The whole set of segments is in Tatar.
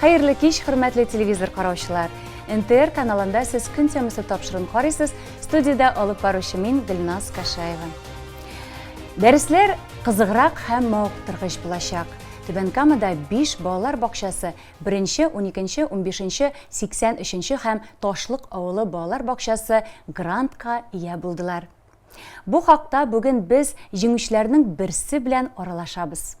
Хәерле кич, хөрмәтле телевизор караучылар! НТР каналында сез көн темасы тапшырын карыйсыз, студиядә алып баручы мин Гөлназ Кашаева. Дәресләр кызыграк һәм мавыктыргыч булачак. Түбән Камада 5 балалар бакчасы 1-нче, 12-нче, 15-нче, 83-нче һәм Ташлык авылы балалар бакчасы грантка ия булдылар. Бу хакта бүген без җиңүчеләрнең берсе белән аралашабыз.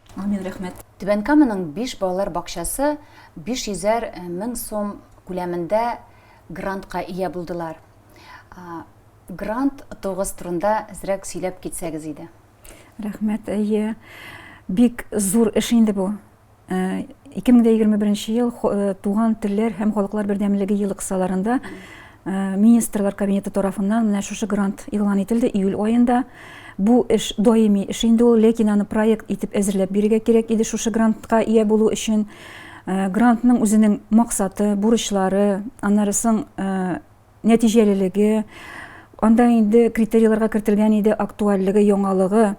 Амин, рәхмәт. Түбән Каманың биш балалар бакчасы 500 э, мең сум күләмендә грантка ия булдылар. Грант тогыз турында әзрәк сөйләп китсәгез иде. Рәхмәт, әйе. Бик зур эш инде бу. 2021 э, ел э, туган телләр һәм халыклар бердәмлеге ел кысаларында Э, министрлар кабинеты тарафыннан менә шушы грант игълан ителде июль аенда бу эш даими эш инде ул ләкин аны проект итеп әзерләп бирергә кирәк иде шушы грантка ия булу өчен э, грантның үзенең максаты бурычлары аннары соң э, нәтиҗәлелеге анда инде критерийларга кертелгән иде актуальлеге яңалыгы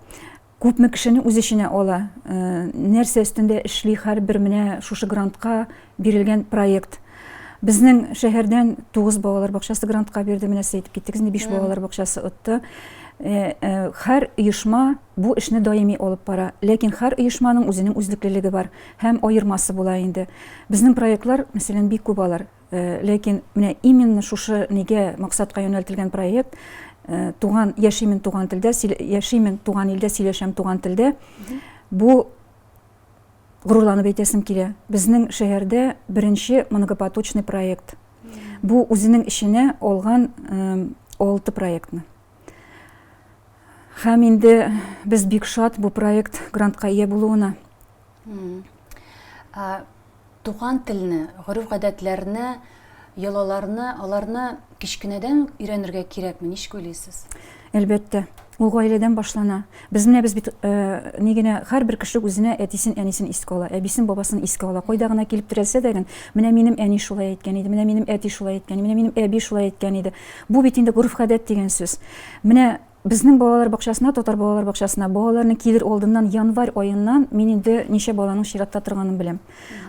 Күпме кешене үз эченә ала, нәрсә өстендә эшли һәрбер менә шушы грантка бирелгән проект. Безнең шәһәрдән тугыз балалар бакчасы грантка бирде, менә сез әйтеп киттегез, инде биш балалар бакчасы отты. Һәр оешма бу эшне даими алып бара, ләкин һәр оешманың үзенең үзлеклелеге бар һәм аермасы була инде. Безнең проектлар, мәсәлән, бик күп алар. Ләкин менә именно шушы нигә максатка юнәлтелгән проект туган яшимен туган телдә яшимен туган илдә сөйләшәм туган телдә бу горурланып әйтәсем килә безнең шәһәрдә беренче многопоточный проект бу үзенең эченә алган алты проектны һәм инде без бик шат бу проект грантка ия булуына Туган телне, гореф-гадәтләрне, йолаларны, аларны кечкенәдән өйрәнергә кирәкме? Ничек уйлыйсыз? Әлбәттә, ул гаиләдән башлана. Без менә без бит э, ни генә һәрбер кеше үзенә әтисен, әнисен искә ала, әбисен, бабасын искә ала. Кайда гына килеп терәлсә дә гын, менә минем әни шулай әйткән иде, менә минем әти шулай әйткән, менә минем әби шулай әйткән иде. Бу бит инде гореф-гадәт дигән сүз. Менә Безнең балалар бакчасына, татар балалар бакчасына балаларны килер алдыннан январь аеннан мин инде ничә баланың чиратта торганын беләм.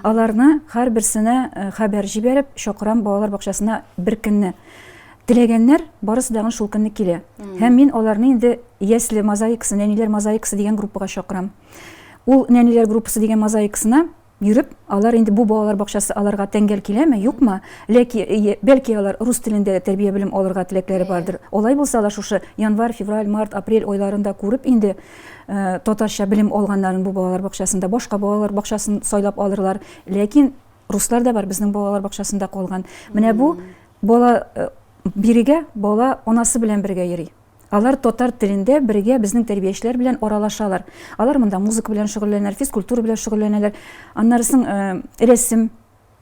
Аларны һәрберсенә э, хәбәр җибәреп чакырам балалар бакчасына бер көнне. Теләгәннәр барысы дагын шул көнне килә. Һәм мин аларны инде ясле мозаикасы, нәниләр мозаикасы дигән группага чакырам. Ул нәниләр группасы дигән мозаикасына Йөреп, алар инде бу балалар бакчасы аларга тәңгәл киләме, юкмы, ләки, бәлки алар рус телендә дә тәрбия белем алырга теләкләре бардыр. Алай булса, алар шушы январь, февраль, март, апрель айларында күреп инде татарча белем алганнарын бу балалар бакчасында, башка балалар бакчасын сайлап алырлар. Ләкин руслар да бар, безнең балалар бакчасында калган. Менә бу бала бирегә бала анасы белән бергә йөри. Алар татар телендә бергә безнең тәрбиячеләр белән аралашалар. Алар монда музыка белән шөгыльләнәләр, физкультура белән шөгыльләнәләр, аннары соң э, рәсем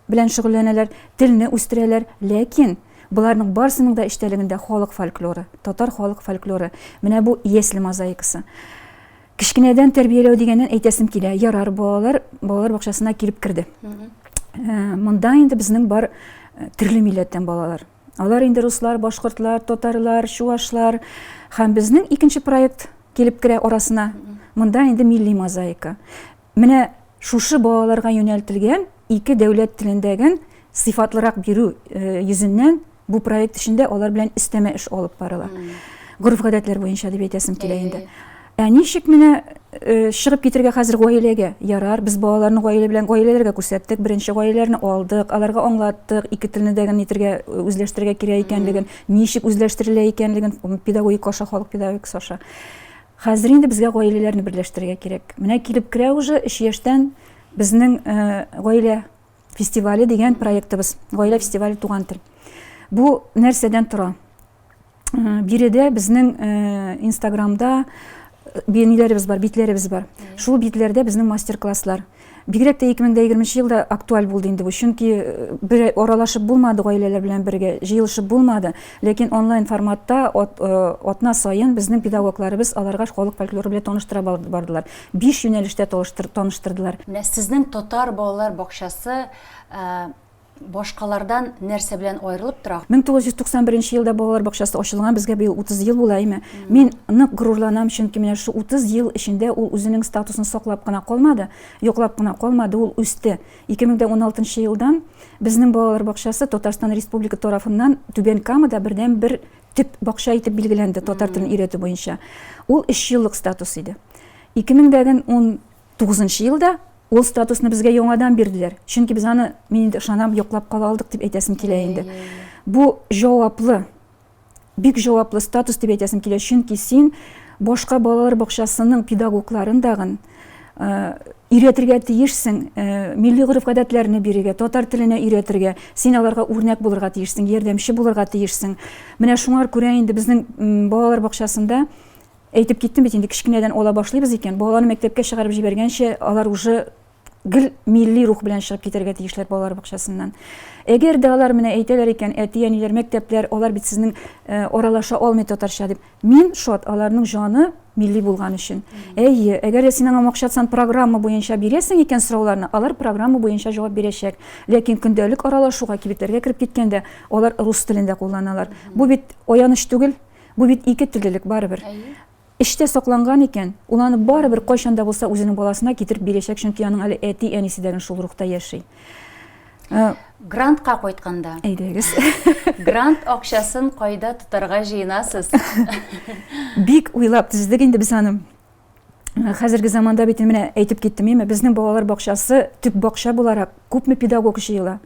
белән шөгыльләнәләр, телне үстерәләр. Ләкин боларның барсының да эчтәлегендә халык фольклоры, татар халык фольклоры. Менә бу ясле мозаикасы. Кечкенәдән тәрбияләү дигәннән әйтәсем килә. Ярар, балалар балалар бакчасына килеп керде. Э, монда инде безнең бар э, төрле милләттән балалар. Алар инде руслар, башкортлар, татарлар, чувашлар һәм безнең икенче проект килеп керә арасына. Монда инде милли мозаика. Менә шушы балаларга юнәлтелгән ике дәүләт телендәген сыйфатлырак бирү э, йөзеннән бу проект эчендә алар белән өстәмә эш алып барыла. Гореф-гадәтләр буенча дип әйтәсем килә инде. Ә ничек менә чыгып китергә хәзер гаиләгә? Ярар, без балаларны гаилә белән гаиләләргә күрсәттек, беренче гаиләләрне алдык, аларга аңлаттык, ике телне дә генә итергә, үзләштерергә кирәк икәнлеген, ничек үзләштерелә икәнлеген, педагогик аша, халык педагогикасы аша. Хәзер инде безгә гаиләләрне берләштерергә кирәк. Менә килеп керә уже өч яшьтән безнең гаилә фестивале дигән проектыбыз. Гаилә фестивале туган тел. Бу нәрсәдән тора? Биредә безнең Инстаграмда биениләребез бар, битләребез бар. Шул битләрдә безнең мастер-класслар. Бигрәк тә 2020 елда актуаль булды инде бу, чөнки э, бер аралашып булмады гаиләләр белән бергә, җыелышып булмады. Ләкин онлайн форматта э, атна сайын безнең педагогларыбыз аларга халык фольклоры белән таныштыра бардылар. Биш юнәлештә таныштырдылар. Менә сезнең татар балалар бакчасы башкалардан нәрсә белән аерылып тора? 1991 елда балалар бакчасы ачылган, безгә быел 30 ел була, әйме. Мин нык горурланам, чөнки менә шул 30 ел эчендә ул үзенең статусын саклап кына калмады, йоклап кына калмады, ул үсте. 2016 елдан безнең балалар бакчасы Татарстан Республика тарафыннан Түбән Камада бердәнбер төп бакча итеп билгеләнде татар телен өйрәтү буенча. Ул 3 еллык статус иде. 2019 елда ул статусны безгә яңадан бирделәр. Чөнки без аны, мин инде ышанам, йоклап кала алдык дип әйтәсем килә инде. Бу җаваплы, бик җаваплы статус дип әйтәсем килә, чөнки син башка балалар бакчасының педагогларын дагын өйрәтергә тиешсең, милли гореф-гадәтләрне бирергә, татар теленә өйрәтергә, син аларга үрнәк булырга тиешсең, ярдәмче булырга тиешсең. Менә шуңар күрә инде безнең балалар бакчасында әйтеп киттем бит инде кечкенәдән ала башлыйбыз икән, балаларны мәктәпкә чыгарып җибәргәнче алар уже гел милли рух белән чыгып китәргә тиешләр балалар бакчасыннан. Әгәр дә алар менә әйтәләр икән, әти-әниләр, мәктәпләр, алар бит сезнең аралаша алмый татарча дип, Мин шат аларның җаны милли булган өчен. Әйе, әгәр дә син аңа макшатсан программа буенча бирәсең икән сорауларны, алар программа буенча җавап бирәчәк. Ләкин көндәлек аралашуга, кибетләргә кереп киткәндә, алар рус телен дә кулланалар. Бу бит аяныч түгел, бу бит ике теллелек барыбер. Эчтә сакланган икән, ул аны барыбер кайчан да булса үзенең баласына китереп бирәчәк, чөнки аның әле әти-әнисе дә генә шул рухта яши. Грантка кайтканда. Әйдәгез. Грант акчасын кайда тотарга җыенасыз? Бик уйлап төздек инде без аны. Хәзерге заманда бит менә әйтеп киттем, әмма безнең балалар бакчасы төп бакча буларак күпме педагог җыела.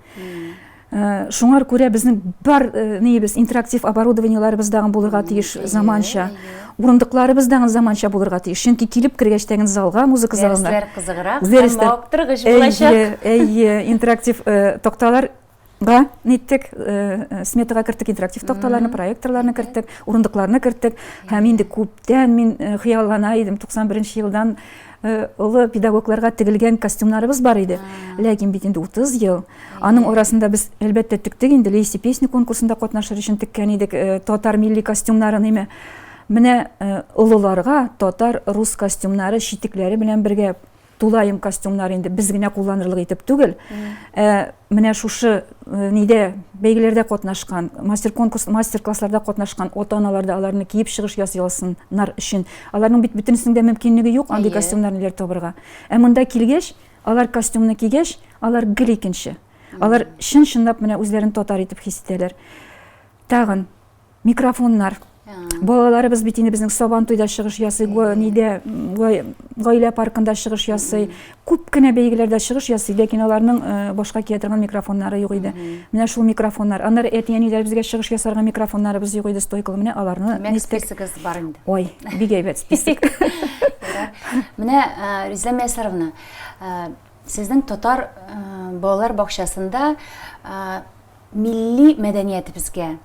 Э, шуңар күрә безнең бар э, нибез интерактив оборудованиеларыбыз дагы булырга тиеш заманча Урындыкларыбыз да заманча булырга тиеш. Чөнки килеп кергәч тә залга, музыка залына. Дәресләр кызыграк, мавыктыргыч булачак. Әйе, интерактив э, такталар Га, ниттек, э, э, сметага керттек интерактив такталарны, проекторларны керттек, урындыкларны керттек. Һәм инде күптән мин э, хыяллана идем, 91 елдан Э, олы педагогларга тегелгән костюмнарыбыз бар иде ләкин бит инде утыз ел аның арасында без әлбәттә тектек инде лейси песни конкурсында катнашыр өчен теккән идек э, татар милли костюмнарын име менә э, олыларга татар рус костюмнары читекләре белән бергә тулаем костюмнар инде без генә кулланырлык итеп түгел ә менә шушы нидә бәйгеләрдә катнашкан мастер конкурс мастер классларда катнашкан ата аналар да аларны киеп чыгыш ясый алсыннар өчен аларның бит бөтенесенең дә мөмкинлеге юк андый костюмнарны табырга ә монда килгәч алар костюмны кигәч алар гел икенче алар чын чынлап менә үзләрен татар итеп хис итәләр тагын Микрофоннар. Балаларыбыз бит инде безнең Сабан туйда чыгыш ясый, нидә гаилә паркында чыгыш ясый. Күп кенә бәйгеләрдә чыгыш ясый, ләкин аларның э, башка кия торган микрофоннары юк иде. Менә шул микрофоннар. Аннары әти-әниләребезгә чыгыш ясарга микрофоннарыбыз юк иде, стойкалы. Менә аларны нистәк. Списогыз бар инде. Ой, бик әйбәт список. Менә э, Риза Мәсәровна, э, сезнең татар балалар бакчасында милли мәдәниятебезгә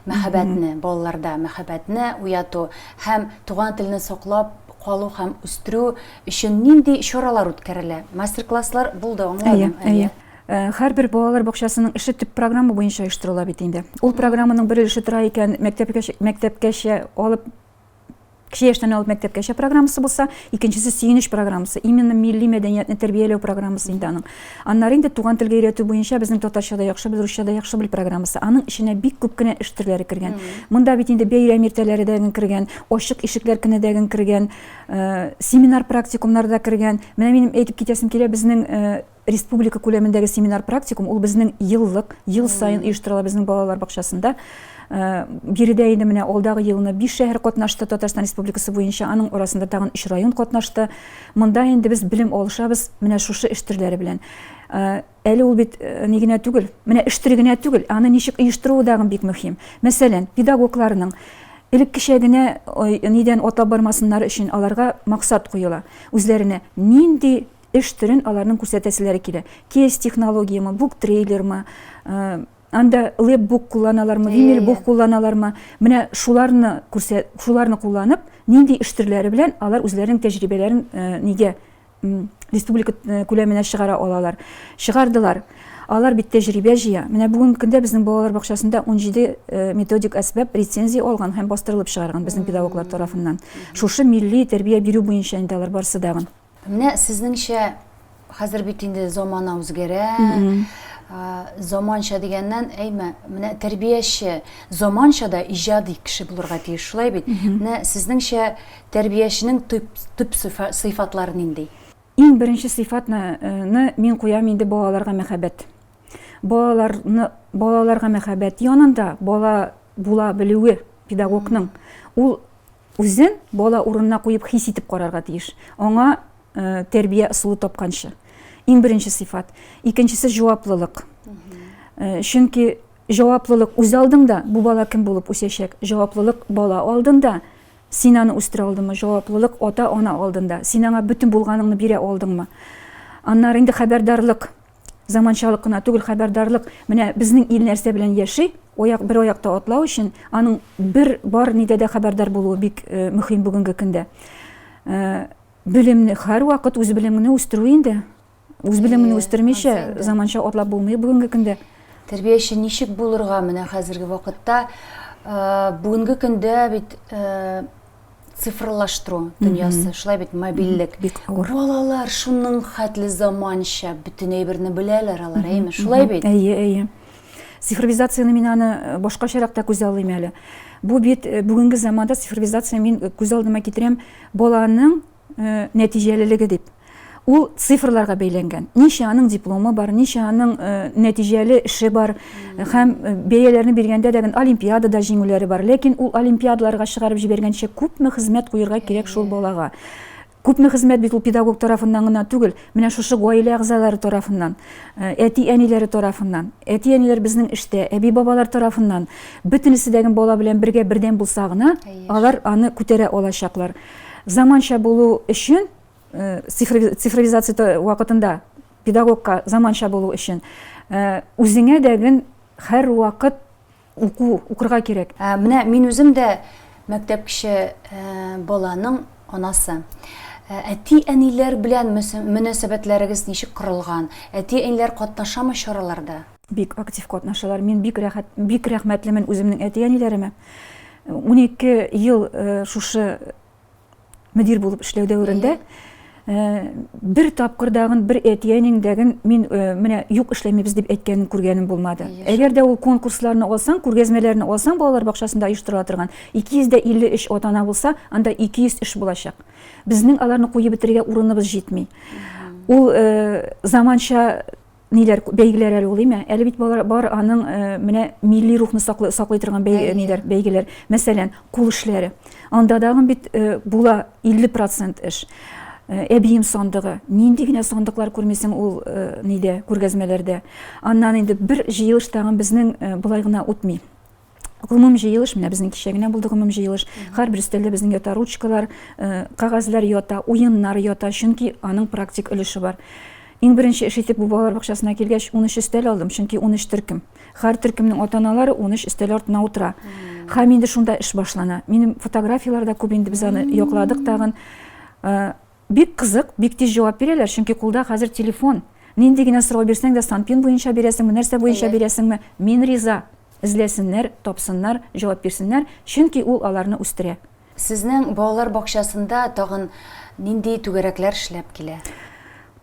мәхәббәтне, балаларда мәхәббәтне уяту һәм туган телне саклап калу һәм үстерү өчен нинди чаралар үткәрелә? Мастер-класслар булды, аңладым. Әйе, әйе. Э, һәрбер балалар бакчасының эше төп программа буенча оештырыла бит инде. Ул программаның бер өлеше тора икән, мәктәпкәчә алып Кече яшьтән алып мәктәпкәчә программасы булса, икенчесе сөенеч программасы. Именно милли мәдәниятне тәрбияләү программасы инде аның. Аннары инде туган телгә өйрәтү буенча безнең татарча да яхшы бел, русча да яхшы бел программасы. Аның эченә бик күп кенә эш төрләре кергән. Монда бит инде бәйрәм иртәләре дә кергән, ачык ишекләр көне дә кергән, э, семинар практикумнар да кергән. Менә минем әйтеп китәсем килә, безнең э, Республика күләмендәге семинар-практикум ул безнең еллык, ел саен оештырыла безнең балалар бакчасында. Э, биредә инде менә алдагы елны биш шәһәр катнашты Татарстан Республикасы буенча, аның арасында тагын өч район катнашты. Монда инде без белем алышабыз менә шушы эш төрләре белән. Э, әле ул бит э, ни генә түгел, менә эш төре генә түгел, аны ничек оештыруы да бик мөһим. Мәсәлән, педагогларның элеккечә генә нидән атлап бармасыннар өчен аларга максат куела. Үзләренә нинди эш төрен аларның күрсәтәселәре килә. Кейс технологиямы, бук трейлермы, анда лепбук кулланалармы, винилбук кулланалармы, менә шуларны күрсә, шуларны кулланып, нинди эш төрләре белән алар үзләренең тәҗрибәләрен нигә республика күләменә чыгара алалар. Чыгардылар. Алар бит тәҗрибә җыя. Менә бүгенге көндә безнең балалар бакчасында 17 методик әсбап рецензия алган һәм бастырылып чыгарган безнең педагоглар тарафыннан. Шушы милли тәрбия бирү буенча инде алар барсы дагын. Менә сезнеңчә хәзер бит инде замана үзгәрә. Заманча дигәннән, әйме, менә тәрбияче заманча да иҗади кеше булырга тиеш, шулай бит? Менә сезнеңчә тәрбияченең төп төп сыйфатлары нинди? Иң беренче сыйфатны э, мин куям инде балаларга мәхәббәт. Балаларны балаларга мәхәббәт янында бала була белүе педагогның ул Үзен бала урынына куеп хис итеп карарга тиеш, аңа тәрбия ысулы тапканчы. Иң беренче сыйфат. Икенчесе җаваплылык. Чөнки җаваплылык үз алдыңда, бу бала кем булып үсәчәк? Җаваплылык бала алдында, син аны үстерә алдыңмы? Җаваплылык ата-ана алдында, син аңа бөтен булганыңны бирә алдыңмы? Аннары инде хәбәрдарлык. Заманчалык кына түгел хәбәрдарлык. Менә безнең ил нәрсә белән яши, аяк бер аякта атлау өчен аның бер бар нидә дә хәбәрдар булуы бик э, мөһим бүгенге көндә. Э, белемне һәрвакыт үз белемеңне үстерү инде. Үз белемеңне үстермичә заманча атлап булмый бүгенге көндә. Тәрбияче ничек булырга менә хәзерге вакытта э, бүгенге көндә бит цифрлаштыру дөньясы, шулай бит мобильлек. Бик авыр. Балалар шуның хәтле заманча, бөтен әйберне беләләр алар, әйме? Шулай бит. Әйе, әйе. Цифровизацияне мин аны э, башкачарак та күз алыйм әле. Бу бит э, бүгенге заманда цифровизация мин э, күз алдыма китерәм баланың нәтиҗәлелеге дип. Ул цифрларга бәйләнгән. Ничә аның дипломы бар, ничә аның э, нәтиҗәле эше бар һәм э, бәяләрне биргәндә дә олимпиадада җиңүләре бар. Ләкин ул олимпиадаларга чыгарып җибәргәнчә күпме хезмәт куерга кирәк шул балага. Күпме хезмәт бит ул педагог тарафыннан гына түгел, менә шушы гаилә әгъзалары тарафыннан, э, әти-әниләре тарафыннан. Әти-әниләр безнең эштә, әби-бабалар тарафыннан бөтенесе дә бала белән бергә бердәм булса гына, алар аны күтәрә алачаклар. Заманча булу өчен цифровизация вакытында педагогка заманча булу өчен үзеңә дәген һәрвакыт уку укырга кирәк менә мин үзем дә мәктәп кеше баланың анасы әти әниләр белән мөнәсәбәтләрегез ничек корылган әти әниләр катнашамы чараларда бик актив катнашалар мин бик рәхәт бик рәхмәтлемен үземнең әти әниләремә унике ел шушы мөдир булып эшләү дәверендә э, бер тапкырдагын бер әтиәнеңдәген мин э, менә юк эшләмибез дип әйткәнен күргәнем булмады әгәр дә ул конкурсларны алсаң күргәзмәләрне алсаң балалар бакчасында оештырыла торган 253 ата ана булса анда 200 эш булачак безнең аларны куеп бетерергә урыныбыз җитми ул э, заманча ниләр бәйгеләр әле ул име әле бит бар, бар аның ә, менә милли рухны саклый, саклый торган бәй, Әйе. ниләр бәйгеләр мәсәлән кул эшләре анда дагы бит ә, була 50 процент эш ә, әбием сандыгы нинди генә сандыклар күрмисең ул ә, нидә күргәзмәләрдә аннан инде бер җыелыш тагын безнең ә, былай гына үтми гомум җыелыш менә безнең кичә генә булды гомум җыелыш һәрбер өстәлдә безнең ята ручкалар э, кәгазьләр ята уеннар ята чөнки аның практик өлеше бар Иң беренче эш итеп бу балалар бакчасына килгәч 13 өстәл алдым, чөнки 13 төркем. Һәр төркемнең ата-аналары 13 өстәл артына утыра. Һәм инде шунда эш башлана. Минем фотографияләрдә күп инде без аны якладык тагын. Э, Бик кызык, бик тиз җавап бирәләр, чөнки кулда хәзер телефон. Нинди генә сорау бирсәң дә, Санпин буенча бирәсеңме, нәрсә буенча бирәсеңме, мин риза. Эзләсеннәр, тапсыннар, җавап бирсеннәр, чөнки ул аларны үстерә. Сезнең балалар бакчасында тагын нинди түгәрәкләр эшләп килә?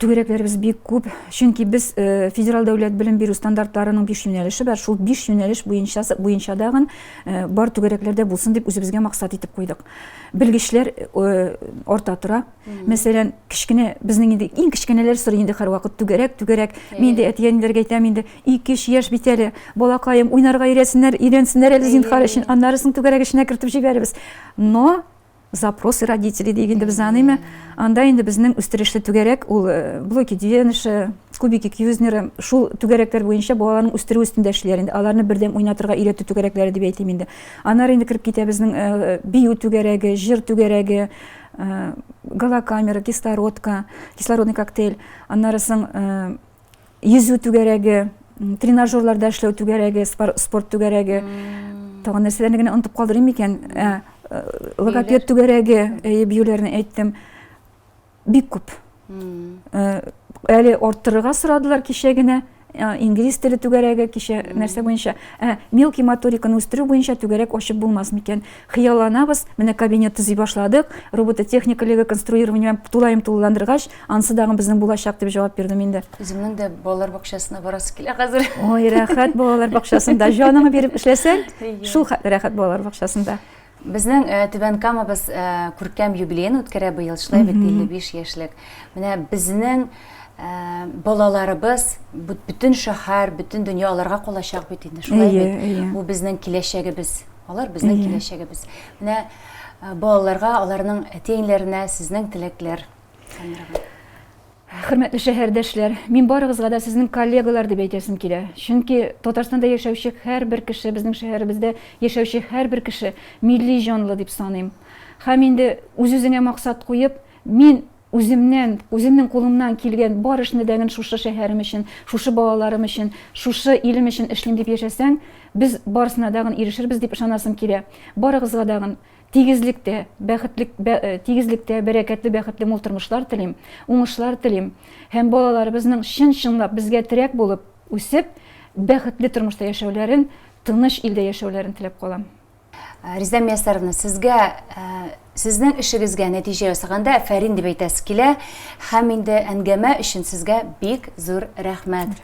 Түгәрәкләребез бик күп, чөнки без федераль дәүләт белем бирү стандартларының биш юнәлеше бар, шул биш юнәлеш буенча буенча дагын бар түгәрәкләрдә булсын дип үзебезгә максат итеп куйдык. белгечләр арта тора. Мәсәлән, кечкенә безнең инде иң кечкенәләр сорый инде һәрвакыт түгәрәк, түгәрәк. Мин инде әти-әниләргә әйтәм инде, 2-3 яшь бит әле, балакаем, уйнарга өйрәсеннәр, өйрәнсеннәр әле зинһар өчен, аннары соң түгәрәк эченә кертеп җибәрербез. Но запросы родителей дип инде без аныймы? Анда инде безнең үстерешле түгәрәк ул э, блоки Дюеныша, кубики Кьюзнера, шул түгәрәкләр буенча балаларның үстерү өстендә эшлиләр инде. Аларны бердәм уйнатырга өйрәтү түгәрәкләре дип әйтим инде. Аннары инде кереп китә безнең э, бию түгәрәге, җыр түгәрәге, э, галокамера, кислородка, кислородный коктейль. Аннары соң э, йөзү түгәрәге, тренажерларда эшләү түгәрәге, спорт түгәрәге. Тагын нәрсәләрне генә онытып калдырыйм микән? Логопед түгәрәге, әйе, биюләрне әйттем. бик күп. Әле арттырырга сорадылар кичә генә инглиз теле түгәрәге кичә нәрсә буенча ә мелкий моториканы үстерү буенча түгәрәк ачып булмас микән хыялланабыз менә кабинет төзи башладык робототехника лего конструированием тулаем тулыландыргач анысы дагы безнең булачак дип җавап бирдем инде үземнең дә балалар бакчасына барасы килә хәзер ой рәхәт балалар бакчасында җаныңны биреп эшләсәң шул рәхәт балалар бакчасында Безнең Түбән Камабыз күркәм юбилеен үткәрә быел, шулай бит, 55 яшьлек. Менә безнең балаларыбыз, бөтен шәһәр, бөтен дөнья аларга калачак бит инде, шулай бит. Бу безнең киләчәгебез, алар безнең киләчәгебез. Менә балаларга, аларның әти-әниләренә сезнең теләкләр, Сәмирә апа. Хөрмәтле шәһәрдәшләр, мин барыгызга да сезнең коллегалар дип әйтәсем килә. Чөнки Татарстанда яшәүче һәрбер кеше, безнең шәһәребездә яшәүче һәрбер кеше милли җанлы дип саныйм. Һәм инде үз-үзеңә максат куеп, мин үземнән, үземнең кулымнан килгән бар эшне дәген шушы шәһәрем өчен, шушы балаларым өчен, шушы илем өчен эшлим дип яшәсәң, без барысына дагын ирешербез дип ышанасым килә. Барыгызга дагын Тигезлектә, бәхетлек, бә, э, тигезлектә бәрәкәтле, бәхетле мул тормышлар телим, уңышлар телим һәм балаларыбызның чын-чынлап безгә терәк булып үсеп, бәхетле тормышта яшәүләрен, тыныч илдә яшәүләрен теләп калам. Э, Риза Миясаровна, сезгә э, сезнең эшегезгә нәтиҗә ясаганда әфәрин дип әйтәсе килә һәм инде әңгәмә өчен сезгә бик зур рәхмәт.